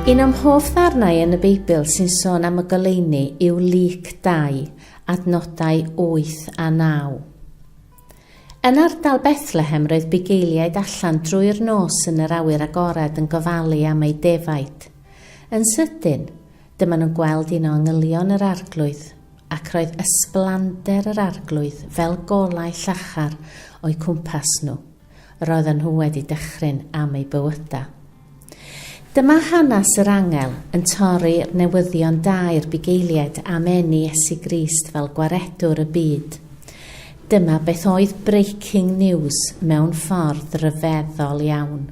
Un o'm hoff ddarnau yn y Beibl sy'n sôn am y goleuni yw Lyc 2, adnodau 8 a 9. Yn ardal Bethlehem roedd bugeiliaid allan drwy'r nos yn yr awyr agored yn gofalu am eu defaid. Yn sydyn, dyma nhw'n gweld un o angylion yr Arglwydd, ac roedd ysblander yr Arglwydd fel golau llachar o'u cwmpas nhw. Roedden nhw wedi dychryn am eu bywydau. Dyma hanes yr angel yn torri'r newyddion da i'r bugeiliaid am eni Iesu Grist fel Gwaredwr y byd. Dyma beth oedd breaking news mewn ffordd ryfeddol iawn.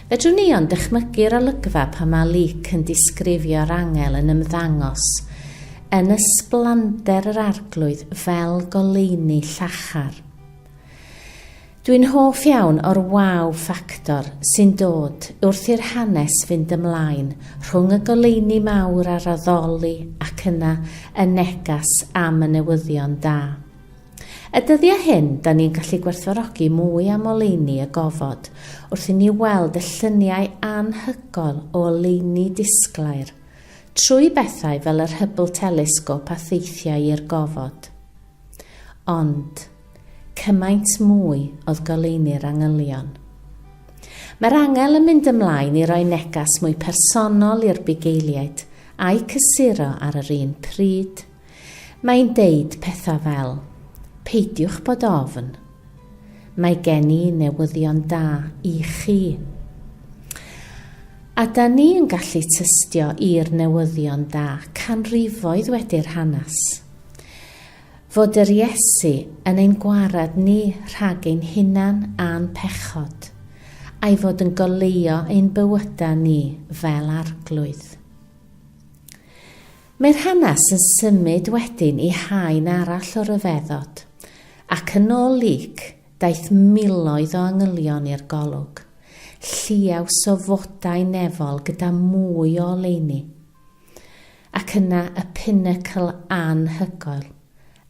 Fedrwn ni ond dychmygu'r olygfa pan mae Luc yn disgrifio'r angel yn ymddangos yn ysblander yr Arglwydd fel goleuni llachar. Dwi'n hoff iawn o'r waw ffactor sy'n dod wrth i'r hanes fynd ymlaen rhwng y goleuni mawr a'r addoli ac yna y negas am y newyddion da. Y dyddiau hyn, da ni'n gallu gwerthfawrogi mwy am oleuni y gofod wrth i ni weld y lluniau anhygoel o oleuni disglair trwy bethau fel yr Hubble Telescope a theithiau i'r gofod. Ond, cymaint mwy oedd goleuni'r angylion. Mae'r angel yn mynd ymlaen i roi neges mwy personol i'r bugeiliaid, a'u cysuro ar yr un pryd. Mae'n deud pethau fel, Peidiwch bod ofn. Mae gen i newyddion da i chi. A da ni yn gallu tystio i'r newyddion da canrifoedd wedi'r hanes. Fod yr Iesu yn ein gwared ni rhag ein hunan a'n pechod, a'i fod yn goleuo ein bywydau ni fel arglwydd. Mae'r hanes yn symud wedyn i haen arall o ryfeddod, ac yn ôl Luc, daeth miloedd o angylion i'r golwg, lliaws o fodau nefol gyda mwy o oleuni, ac yna y pinacl anhygoel,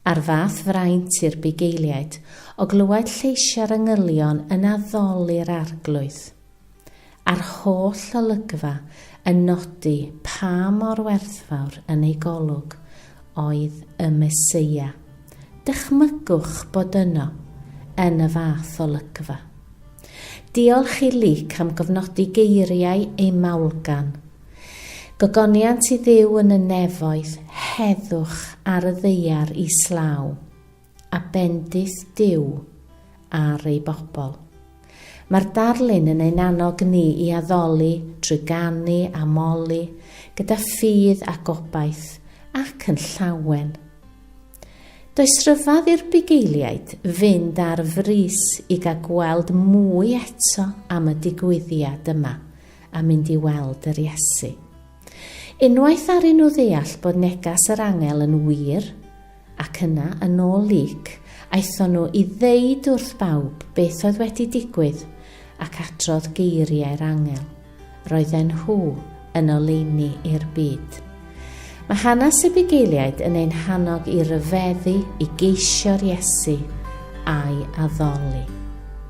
a'r fath fraint i'r bugeiliaid o glywed lleisiau'r angylion yn addoli'r arglwydd. a'r holl olygfa yn nodi pa mor werthfawr yn ei golwg oedd y Meseia. Dychmygwch bod yno, yn y fath olygfa. Diolch i Luc am gofnodi geiriau ei maulgan, Gogoniant i Dduw yn y nefoedd, heddwch ar y ddaear islaw. a bendith Duw ar ei bobl. Mae'r darlun yn ein annog ni i addoli drwy ganu a moli gyda ffydd a gobaith ac yn llawen. Does rhyfedd i'r bugeiliaid fynd ar frys i gael gweld mwy eto am y digwyddiad yma a mynd i weld yr Iesu. Unwaith aru nhw ddeall bod negas yr angel yn wir, ac yna, yn ôl Luc, aethon nhw i ddeud wrth bawb beth oedd wedi digwydd, ac adrodd geiriau'r angel, Roedden nhw yn oleuni i'r byd. Mae hanes y bugeiliaid yn ein hannog i ryfeddu i geisio'r Iesu a'i addoli.